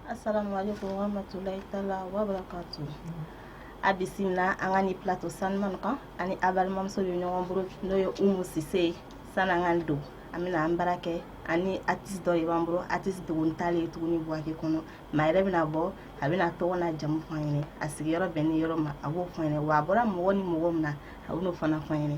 Assalamu alaikum warahmatullahi taala wabarakatu a bisimila an ka nin plato saniman kan ani a balimamuso bɛ ɲɔgɔn bolo n'o ye umu sise ye sani an ka don an bɛna an baara kɛ ani atisi dɔ de b'an bolo atisi dogoni t'ale ye tuguni buwake kɔnɔ maa yɛrɛ bɛna bɔ a bɛn'a tɔgɔ n'a jamu fɔ an ɲɛnɛ a sigiyɔrɔ bɛnnin yɔrɔ ma a b'o fɔ an ɲɛnɛ wa a bɔra mɔgɔ ni mɔgɔ min na a bɛ n'o fana fɔ an ɲɛnɛ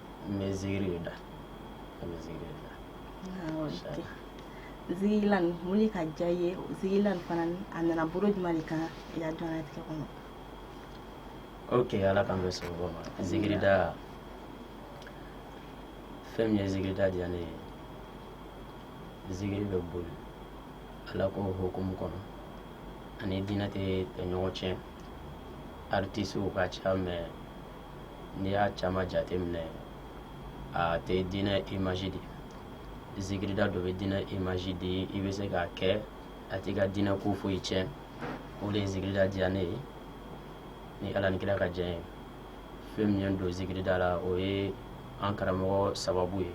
mais zigiri bɛ da a bɛ zigiri de da. awɔ tɛ zigirila mun de k'a diya i ye zigirila fana a nana bolo jumɛn de kan i ka diɲɛnatigɛ kɔnɔ. ok ala k'an bɛɛ sababu ma zigiri da fɛn min ye zigiri da diya ne ye zigiri bɛ boli ala ko hukumu kɔnɔ a ni diinɛ tɛ ɲɔgɔn tiɲɛ artisiw ka ca mɛ n'i y'a caman jate minɛ a tɛ diinɛ imazi di zikirida dun bɛ diinɛ imazi di i bɛ se k'a kɛ a t'i ka diinɛ ko foyi tiɲɛ o de ye zikirida diya ne ye ni ala ni kira ka jɛ fɛn min ye n don zikirida la o ye an karamɔgɔ sababu ye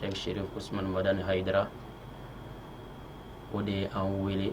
sɛk sherif usman madani hayidara o de ye an wele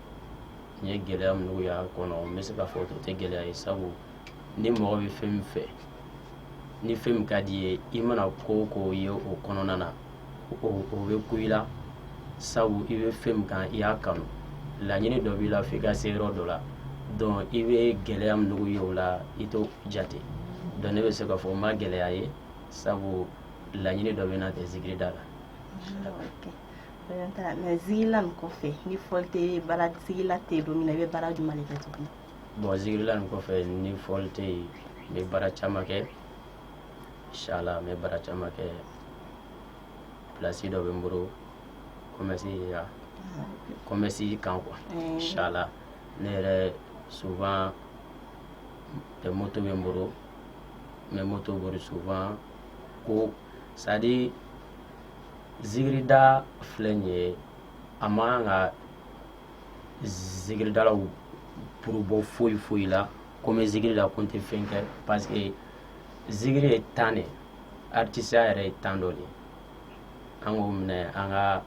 n ye gɛlɛya minnu y'a kɔnɔ n bɛ se k'a fɔ o tɛ gɛlɛya ye sabu ni mɔgɔ bɛ fɛn min fɛ ni fɛn min ka d'i ye i mana ko o ko ye o kɔnɔna na o o bɛ kun i la sabu i bɛ fɛn min kan i y'a kanu laɲini dɔ b'i la f'i ka se yɔrɔ dɔ la donc i bɛ gɛlɛya minnu ye o la i t'o jate donc ne bɛ se k'a fɔ n ma gɛlɛya ye sabu laɲini dɔ bɛ n na de zikiri da la. mɛ zigirila nin kɔfɛ ni fɔli tɛ baara zigirila tɛ don min na i bɛ baara jumɛn de kɛ tuguni bon zigirila nin kɔfɛ ni fɔli tɛ yen n bɛ baara caman kɛ inshallah n bɛ baara caman kɛ pilasi dɔ bɛ n bolo kɔmɛsi ya kɔmɛsi kan quoi inshallah ne yɛrɛ souvent tɛ moto bɛ n bolo n bɛ moto bori souvent ko c'est à dire zikirida filɛ nin ye a man kan ka zikiridalaw bolo bɔ foyi foyi la ko n bɛ zikiri da ko n tɛ fɛn kɛ parce que zikiri ye tan de ye aritisiya yɛrɛ ye tan dɔ de ye an k'o mɛn an ka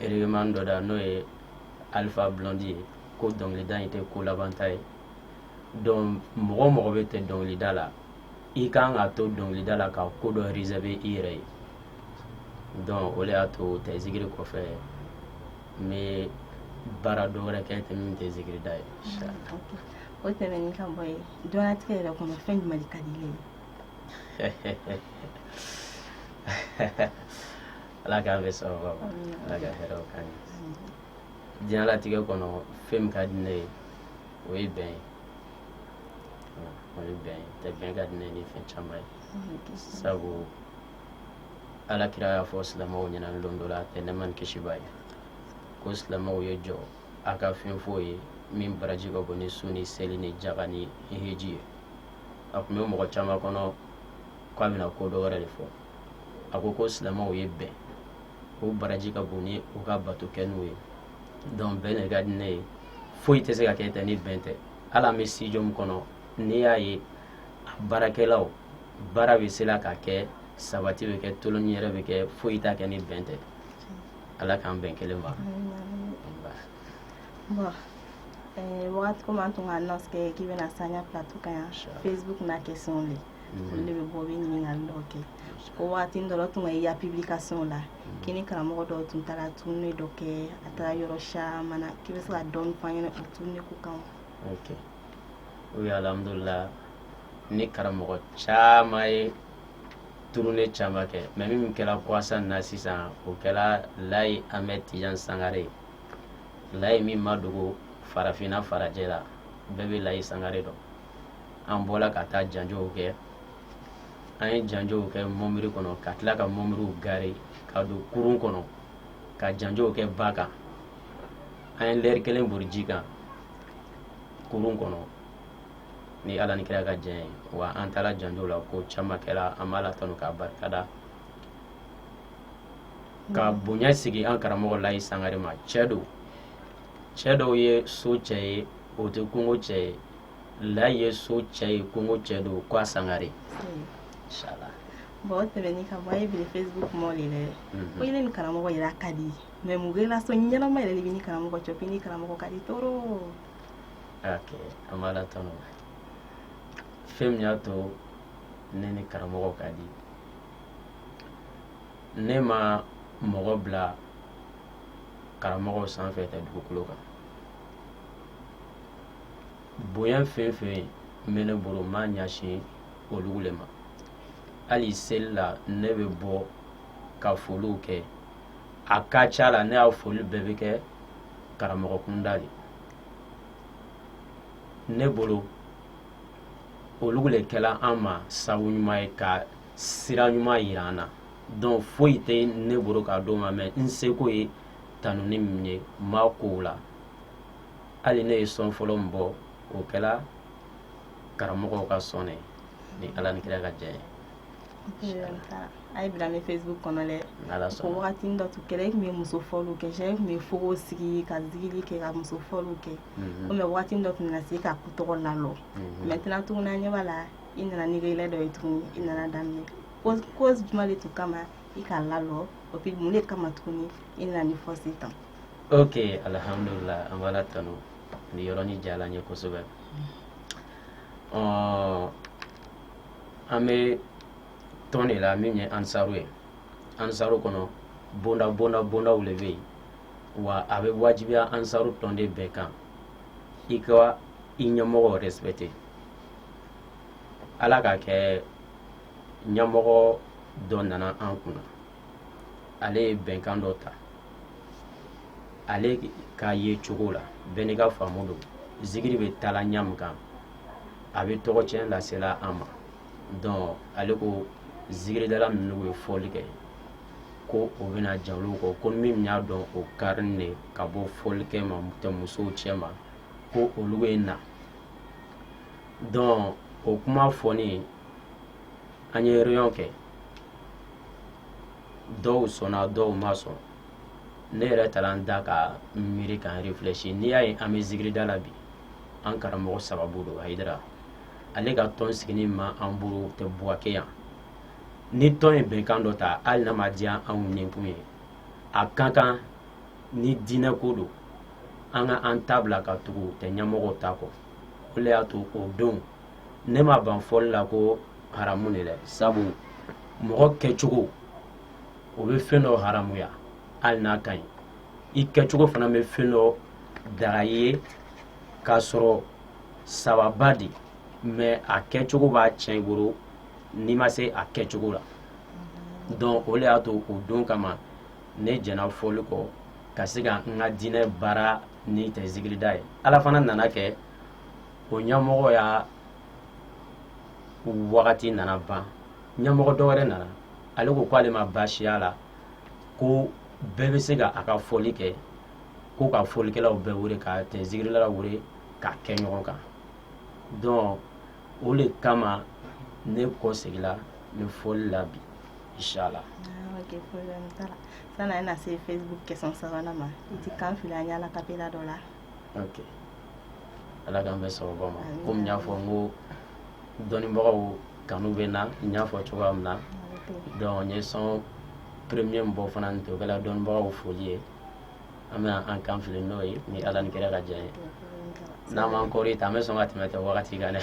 regeman dɔ da n'o ye alifa blɔndi ye ko dɔnkilida in tɛ ko labanta ye donc mɔgɔ o mɔgɔ bɛɛ tɛ dɔnkilida la i ka kan ka to dɔnkilida la ka ko dɔ rezɛrive i yɛrɛ ye dɔnku o de y'a to tɛ zikiri kɔfɛ n bɛ baara dɔ wɛrɛ kɛ tɛ min tɛ zikirida ye o tɛmɛn ka bɔ ye diɲɛlatigɛ yɛrɛ kɔnɔ fɛn jumɛn ka di i ye ala k'a bɛ sɔrɔ ala ka hɛrɛ k'an ɲɛ diɲɛlatigɛ kɔnɔ fɛn min ka di ne ye o ye bɛn ye ye bɛn tɛ bɛn ka di ne ni fɛn caman ye sabu ala kira y'a fɔ silamɛw ɲɛna don dɔ la tɛ nɛɛma ni kisi b'a ye ko silamɛw ye jɔ a ka fɛn f'u ye min baraji ka bon ni sun ni seli ni jaga ni hiji ye a tun bɛ mɔgɔ caman kɔnɔ k'a bɛna ko dɔ wɛrɛ de fɔ a ko ko silamɛw ye bɛn k'o baraji ka bon ni u ka bato kɛnenw ye dɔnku bɛn de ka di ne ye foyi tɛ se ka kɛ tɛ ni bɛn tɛ hali an bɛ sitidiyo min kɔnɔ n'i y'a ye a baarakɛlaw baara bɛ se ka kɛ sabati bɛ kɛ tolon yɛrɛ bɛ kɛ foyi tɛ kɛ ni bɛn tɛ ala k'an bɛn kelen ma wagati komi an tun ka anɔnsi kɛ k'i bɛna s'an ya plato kan yan facebook na kɛ sɔn de olu de bɛ bɔ bɛ ɲininkali dɔw kɛ ko waati dɔ la tun k'a ye pibilikasɔnw la k'i ni karamɔgɔ dɔw tun taara turune dɔ kɛ a taara yɔrɔ caman na k'i bɛ se ka dɔ f'an ɲɛna o turune ko kan o alihamudulila ni karamɔgɔ caman ye turune caman kɛ mɛ min kɛra kɔsa in na sisan o kɛra layi amɛdi tijan sangare layi min ma dogo farafinna farajɛla bɛɛ bɛ layi sangare dɔn an bɔra ka taa janjɔw kɛ an ye janjɔw kɛ mɔnbiri kɔnɔ ka tila ka mɔnbiriw gare ka don kurun kɔnɔ ka janjɔw kɛ ba kan an ye lɛri kelen bori ji kan kurun kɔnɔ ni ala ni kira ka jɛn ye wa an taara janjɔw la ko caman kɛra an b'ala tanu k'a barikada ka bonya segin an karamɔgɔ layi sangare ma cɛ don cɛ dɔ ye so cɛ ye o tɛ kungo cɛ ye la ye so cɛ ye kungo cɛ don ko sangare bɔn tɛmɛn ka bɔ ye bi facebook kuma de dɛ mhm. ko ne ni karamɔgɔ yɛrɛ ka di mɛ mun relasɔn ɲɛnama yɛrɛ de b'e ni karamɔgɔ cɛ k'e ni karamɔgɔ ka di toro an b'ala tanu fɛn min y'a to ne ni karamɔgɔ ka di ne ma mɔgɔ bila karamɔgɔw sanfɛ tɛ dugukolo kan bonya fɛn fɛn bɛ ne bolo n b'a ɲɛsin olu de ma hali seli la ne bɛ bɔ ka foliw kɛ a ka ca la ne ya foli bɛɛ bɛ kɛ karamɔgɔ kunda de ne bolo olu de kɛla an ma sabu ɲuman ye ka sira ɲuman yira an na donc foyi tɛ ne bolo k'a d'o ma mais n seko ye tanuni min ye n b'a k'o la hali ne ye son fɔlɔ min bɔ o kɛra karamɔgɔ ka son ni ala ni kira ka jɛ ye a ye bila ne facebook kɔnɔ dɛ ko wagati dɔ tun kɛra e tun bɛ muso fɔliw kɛ e tun bɛ fogo sigi ka zikiri kɛ ka muso fɔliw kɛ mhm. komi wagati dɔ tun na se ka tɔgɔ lalɔ mhm. maintenant tuguni an ɲɛ b'a la i nana ni yɛlɛ dɔ ye tuguni i nana daminɛ cause jumɛn de tun kama i ka lalɔ o puis mun de kama tuguni i nana ni fɔsi tan ok alihamdulila an b'ala tanu ni yɔrɔnin diyara an ye kosɛbɛ ɔɔ an bɛ tɔn de la min ye ansaru ye ansaru kɔnɔ bonda bonda bondaw de bɛ yen wa a bɛ wajibiya ansaru tɔnden bɛɛ kan i ka i ɲɛmɔgɔw respecter ala k'a kɛ ɲɛmɔgɔ dɔ nana an kunna ale ye bɛnkan dɔ ta ale ka yecogo la bɛɛ n'i ka faamu don zikiri bɛ taala ɲa min kan a bɛ tɔgɔcɛn lasela an ma donc ale ko zikiridala minnu bɛ fɔli kɛ ko o bɛna jɛn olu kɔ ko min y'a dɔn o karin de ka bɔ fɔli kɛ ma tɛ musow cɛma ko olu bɛ na donc o kuma fɔni an ye réunion kɛ dɔw sɔnna dɔw ma sɔn ne yɛrɛ taara n da ka n miiri ka n réfléchir n'i y'a ye an bɛ zikirida la bi an karamɔgɔ sababu don ayidara ale ka tɔn siginin b'an bolo tɛ buwake yan ni tɔn ye bɛnkan dɔ ta hali n'a ma diya anw ninkun ye a ka kan ni diinɛ ko don an ka an ta bila ka tugu tɛ ɲɛmɔgɔw ta kɔ o le y'a to o don ne ma ban fɔli la ko haramu de dɛ sabu mɔgɔ kɛcogo o bɛ fɛn dɔ haramuya hali n'a ka ɲi i kɛcogo fana bɛ fɛn dɔ daga i ye k'a sɔrɔ sawaba de mais a kɛcogo b'a cɛn i bolo n'i ma se a kɛcogo la donc o de y'a to o don kama ne jɛna fɔli kɔ ka se ka n ka diinɛ baara ni tɛ zikirida ye ala fana nana kɛ o ɲamɔgɔ y'a wagati nana ban ɲamɔgɔ dɔ wɛrɛ nana ale ko k'ale ma baasiya la ko bɛɛ bɛ se ka a ka fɔli kɛ ko ka fɔlikɛlaw bɛɛ wele ka tɛ zikirila wele k'a kɛ ɲɔgɔn kan donc o de kama ne kɔsegila nin fɔli la bi inshallah ah, ok problème t'a la san'an na se facebook question sabanan ma i t'i kan fili an ye a cappella dɔ la ala k'an bɛn sawaba ma komi n y'a fɔ n ko dɔnnibagaw kanu bɛ n na n y'a fɔ cogoya min na donc n ye son premier min bɔ fana nin tun kɛla dɔnnibagaw foli ye an bɛna an kan fili n'o ye ni ala ni kira ka diya ye n'an m'an kɔrɔtɔ an bɛ sɔn ka tɛmɛ tɛ wagati kan dɛ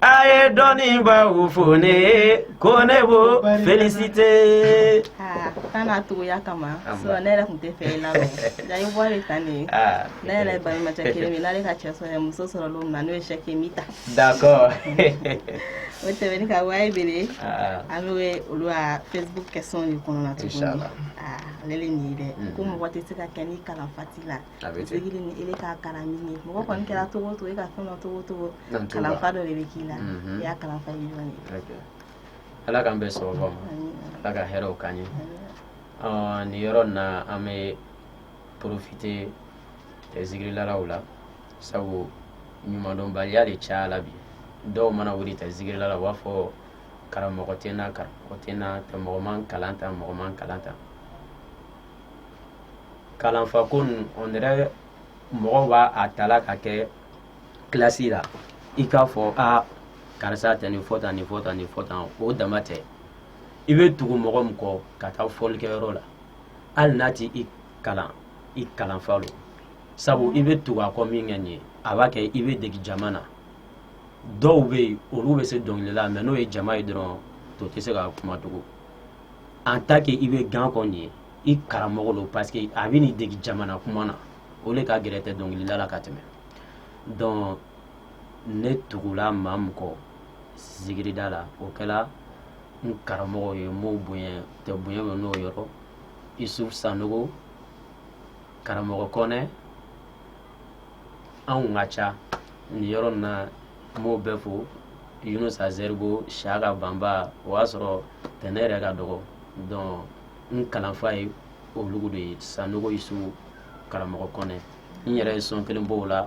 a ye dɔnnibaa fo ne ko ne b'o felisite. aa kan n'a togoya kama sinɔn ne yɛrɛ tun tɛ fɛ i la rɔ nka i bɔra yen tan de ne yɛrɛ ye baɲumancɛ kelen min n'ale ka cɛ sɔrɔ muso sɔrɔ don min na n'o ye sɛkɛ min ta. d'accord. o tɛmɛnen kɔ wayi bere an bɛ olu ka facebook question de kɔnɔna tuguni aa ale de nin ye dɛ ko mɔgɔ tɛ se ka kɛ ni kalanfa t'i la. A bɛ ten. Degeli ni ele k'a kalan ni ye mɔgɔ kɔni kɛra cogo o cogo e ka fɛn dɔn cogo o cogo Ɲa t'o la. kalanfa dɔ de bɛ k'i la Mhm. i y'a kalanfa ye jɔn ye Ok. Ala k'an bɛn sawaba ma. Amin. Ala ka hɛrɛw k'an ye. Ɔ, nin yɔrɔ in na an bɛ porofite eh, zikirilalaw la sabu ɲumandɔnbaliya de cayala bi dɔw mana wuli ta zikirila la u b'a fɔ karamɔgɔ tɛ n na karamɔgɔ tɛ n na tɛ mɔgɔ ma n kalan tan mɔgɔ ma n kalan tan kalanfa ko ninnu on dirait mɔgɔw b'a a tala ka kɛ kilasi la i k'a fɔ a karisa tɛ nin fɔ tan nin fɔ tan nin fɔ tan o dama tɛ i bɛ tugu mɔgɔ min kɔ ka taa fɔlikɛyɔrɔ la hali n'a t'i kalan i kalanfa lo sabu i bɛ tugu a kɔ min kɛ nin ye a b'a kɛ i bɛ dege jama na dɔw bɛ yen olu bɛ se dɔnkili la mais n'o ye jama ye dɔrɔn o tɛ se ka kuma tugun an ta kɛ i bɛ gan a kɔ nin ye i karamɔgɔ don parce que a b'i dege jama na kuma na o de ka gɛlɛn tɛ dɔnkilida la ka tɛmɛ donc ne tugula maa min kɔ zikirida la o kɛra n karamɔgɔ ye mɔw bonya tɛ bonya n'o yɔrɔ isu sanogo karamɔgɔ kɔnɛ anw ka ca nin yɔrɔ na n b'o bɛɛ fo yunusa zɛribo shaka banba o y'a sɔrɔ ten ne yɛrɛ ka dɔgɔ donc n kalanfa ye olugu de ye sanogo isu karamɔgɔ kɔnɛ n yɛrɛ ye son kelen bɔ o la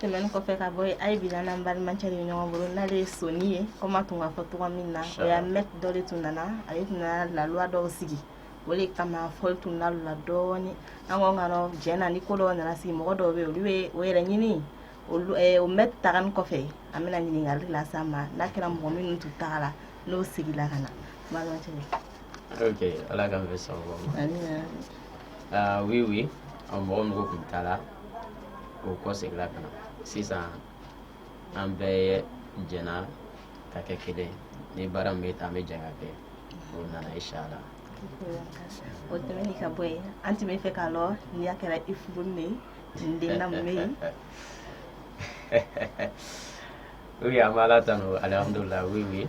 tɛmɛni kɔfɛ ka bɔ yen a ye bila n'an balimakɛ de ɲɔgɔn bolo n'ale ye soni ye komi a tun k'a fɔ cogo min na o ya mɛt dɔ de tun nana ale tun nana laluwa dɔw sigi o de kama fɔli tun na la dɔɔni an ko ka dɔn jɛn na ni ko dɔw nana sigi mɔgɔ dɔw bɛ yen olu bɛ o yɛrɛ ɲini olu eh, o mɛt tagali kɔfɛ an bɛna ɲininkali las'a ma n'a kɛra mɔgɔ minnu tun tagara n'o seginna ka na balimakɛ Okay, ala k'an bɛ sago ma. Aa oui oui an mɔgɔ mɔgɔ tun taara o kɔseginna ka na sisan an bɛɛ jɛna ka kɛ kelen ni baara min bɛ taa an bɛ jɛ k'a kɛ o nana inshallah. O tɛmɛni ka bɔ yen an tun bɛ fɛ k'a lɔ ni a kɛra i furunin den na mun bɛ yen. Oui an bɛ ala tanu alihamudulila oui oui.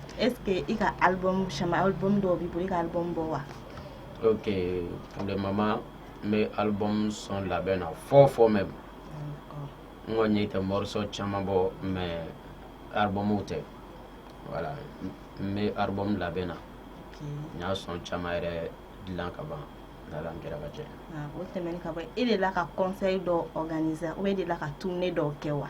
est-ce que i ka album caman album dɔw b'i bolo i ka album bɔ wa ok pour le moment n bɛ album son labɛn na fɔ fɔ mais n kɔni ye tɛ morceau caman bɔ mais albumw tɛ voilà n bɛ album labɛn na n y'a son caman yɛrɛ dilan ka ban n'ala ni kira ka jɛ o tɛmɛni ka bɔ e delila ka concert dɔ organiser ou bien e delila ka tournée dɔw kɛ wa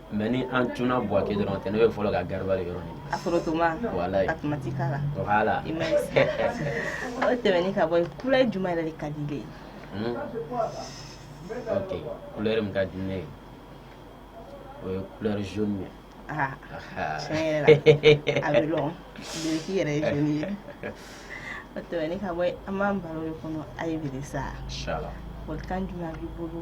mais ni an tun bu kɛ dɔrɔn tɛ ne bɛ fɔlɔ ka garaba de yɔrɔ ɲini o tɛmɛn ka bɔ couleur juma yɛrɛ de ka di ile ye couleur min ka di ne ye o ye couleur jaune ye a bɛ yɛrɛ ye o tɛmɛn ka bɔ an b'an baro de kɔnɔ a ye bɛ sa kan jumɛn b'i bolo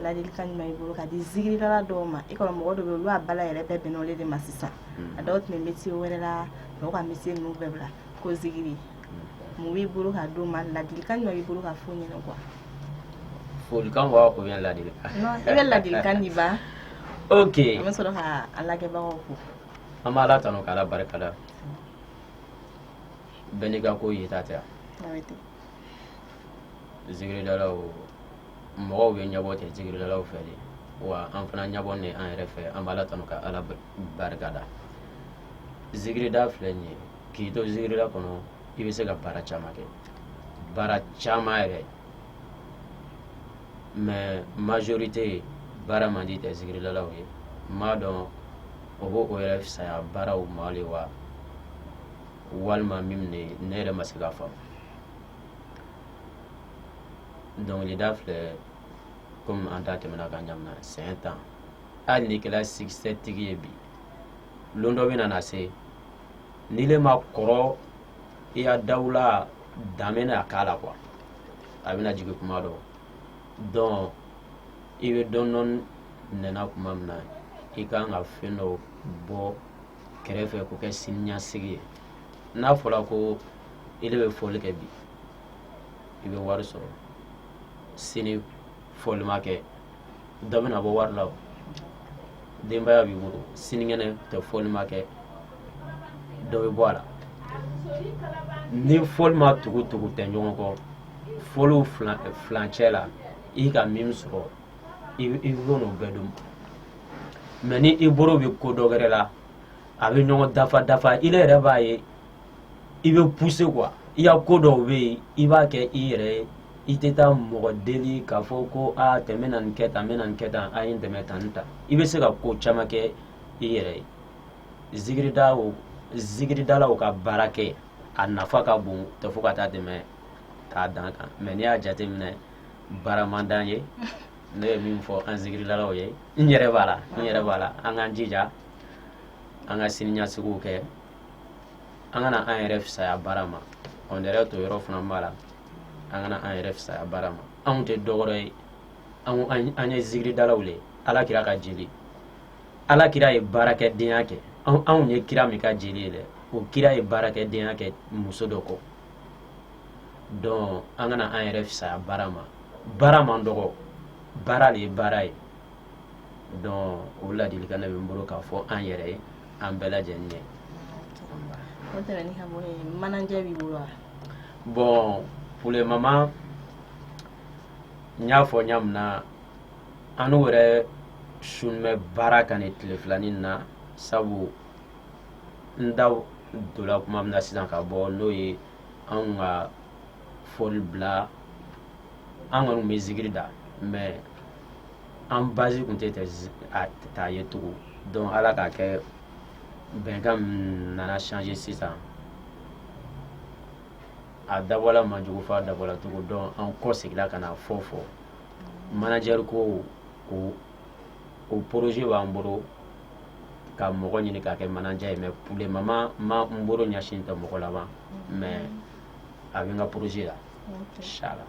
ladilikan jumɛn b'i bolo ka di zikiridala dɔw ma e kɔnɔ mɔgɔ dɔ bɛ olu a bala yɛrɛ bɛɛ bɛnle de ma sisan mm. a dɔw tun bɛ misi wɛrɛ la dɔw ka misi ninnu bɛɛ bila ko zikiri mm. mun b'i bolo ka d'o ma ladilikan jumɛn b'i bolo ka fo ɲini kuwa folikan wa ko bɛ ladi i bɛ ladilikan di ba ok an bɛ fɔlɔ ka alabagaw ko an bɛ ala tanu ka ala barika da bɛɛ n'i ka ko ye ta tɛ zikiridalaw mɔgɔw bɛɛ ɲɛbɔ tɛ zikiridalaw fɛ de wa an fana ɲɛbɔnen an yɛrɛ fɛ an b'ala tanu ka ala barika da zikirida filɛ nin ye k'i to zikirida kɔnɔ i bɛ se ka baara caman kɛ baara caman yɛrɛ mais majorité baara man di zikiridalaw ye n m'a dɔn o b'o o yɛrɛ fisaya baaraw ma le wa walima mun ne ne yɛrɛ ma se k'a faamu dɔnkilida filɛ komi an ta tɛ mɛn n'a ka ɲa mɛnna san tan hali n'i kɛra sikisɛ tigi ye bi lon dɔ bɛ na na se n'ile ma kɔrɔ i y'a dawula dan bɛna a k'a la quoi a bɛna jigin kuma dɔ donc i bɛ dɔɔnin dɔɔnin minɛ na kuma min na i ka kan ka fɛn dɔ bɔ kɛrɛfɛ k'o kɛ siniɲasigi ye n'a fɔra ko ile bɛ fɔli kɛ bi i bɛ wari sɔrɔ sini fɔli ma kɛ dɔ bɛna bɔ wari la denbaya b'i bolo sinikɛnɛ tɛ fɔli ma kɛ dɔ bɛ bɔ a la ni fɔli ma tugu tugu tɛ ɲɔgɔn kɔ fɔli fila cɛ la i ka min sɔrɔ i b'o n'o bɛɛ dun mais ni i bolo bɛ ko dɔ wɛrɛ la a bɛ ɲɔgɔn dafa dafa i yɛrɛ b'a ye i bɛ pousser quoi i ka ko dɔw bɛ yen i b'a kɛ i yɛrɛ ye i tɛ taa mɔgɔ deli k'a fɔ ko aa tɛ n bɛna nin kɛ tan n bɛna nin kɛ tan a ye n dɛmɛ tan ni tan i bɛ se ka ko caman kɛ i yɛrɛ ye zikirida o zikiridalaw ka baara kɛ a nafa ka bon tɛ fo ka taa tɛmɛ k'a dan kan mais n'i y'a jateminɛ baara man d'an ye ne ye min fɔ an zikiridalaw ye n yɛrɛ b'a la n yɛrɛ b'a la an k'an jija an ka siniɲɛsigiw kɛ an kana an yɛrɛ fisaya baara ma an yɛrɛ to yɔrɔ fana b'a la an kana an yɛrɛ fisaya baara ma anw tɛ dɔwɛrɛ ye an ye zikiridalaw le ala kira ka jeli ala kira ye baarakɛdenya kɛ anw ye kira min ka jeli ye dɛ o kira ye baarakɛdenya kɛ muso dɔ kɔ donc an kana an yɛrɛ fisaya baara ma baara man dɔgɔ baara le ye baara ye donc o ladilikan ne bɛ n bolo k'a fɔ an yɛrɛ ye an bɛɛ lajɛlen ye o tɛmɛnin ka bɔ yen manager b'i bolo wa bon pour le moment n y'a fɔ ɲa min na anw yɛrɛ sun bɛ baara kan nin tile fila nin na sabu n da donna kuma min na sisan ka bɔ n'o ye anw ka fɔli bila an kɔni bɛ zikiri da mais an basi tun tɛ ta ye tugun donc ala k'a kɛ bɛnkan nana changer sisan a dabɔla man jugu fɔ a dabɔla tugun donc an kɔ seginna ka na fɔ fɔ manager ko ko o projet b'an bolo ka mɔgɔ ɲini k'a kɛ manager ye mais pour le moment même n bolo ɲɛsin tɛ mɔgɔ la ban mais a bɛ n ka projet la inchallah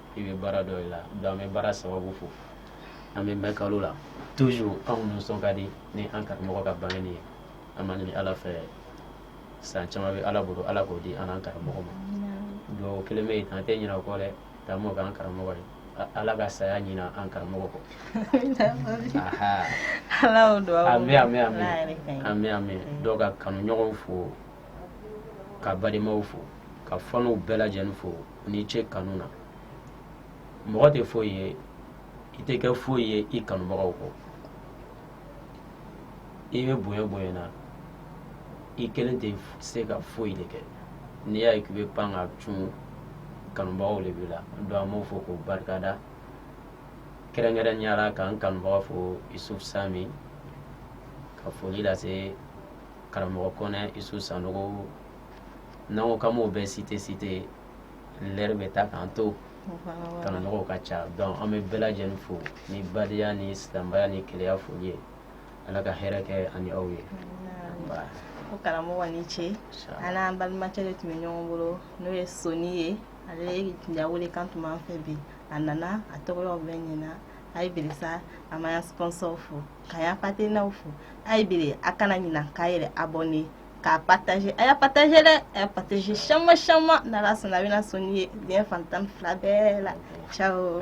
i bɛ baara dɔ i la donc an bɛ baara sababu fɔ an bɛ mɛ kalo la tu anw nisɔn ka di ni an karamɔgɔ ka bange ye an b'a ɲini ala fɛ san caman bɛ ala bolo ala k'o di an karamɔgɔ ma don kelen bɛ an tɛ ɲina kɔ dɛ taa mɔ an karamɔgɔ ye ala ka saya ɲina an karamɔgɔ kɔ an an mɛn dɔw ka kanuɲɔgɔnw fo ka balimaw fo ka fanw bɛɛ lajɛlen fo ni ce kanu na mɔgɔ tɛ foyi ye i tɛ kɛ foyi ye i kanubagaw kɔ i bɛ bonya bonya na i kelen tɛ se ka foyi de kɛ n'i y'a ye k'i bɛ pan ka cun kanubagaw de b'i la donc an b'u fo k'u barikada kɛrɛnkɛrɛnnenya la k'an kanubaga fo isuf sami ka foli lase karamɔgɔ kɔnɛ isu sanogo n'an ko k'an b'u bɛɛ citer citer lɛri bɛ taa k'an to kanumɔgɔw ka ca donc an bɛ bɛɛ lajɛlen fo ni badenya ni silamɛya ni kelenya foli ye ala ka hɛrɛ kɛ an ni aw ye ko karamɔgɔ ni ce an n'an balimakɛ de tun bɛ ɲɔgɔn bolo n'o ye soni ye ale ya welekan tun b'an fɛ bi a nana a tɔgɔyaw bɛ ɲina a ye bilisa a m'a ya sponsorw fo k'a ya partenairew fo a ye biri a kana ɲinan k'a yɛrɛ abonner k'a partager a y'a partager dɛ a y'a partager caman caman n'ala sɔnna a bɛna soni ye diɲɛ fan tan ni fila bɛɛ la ciao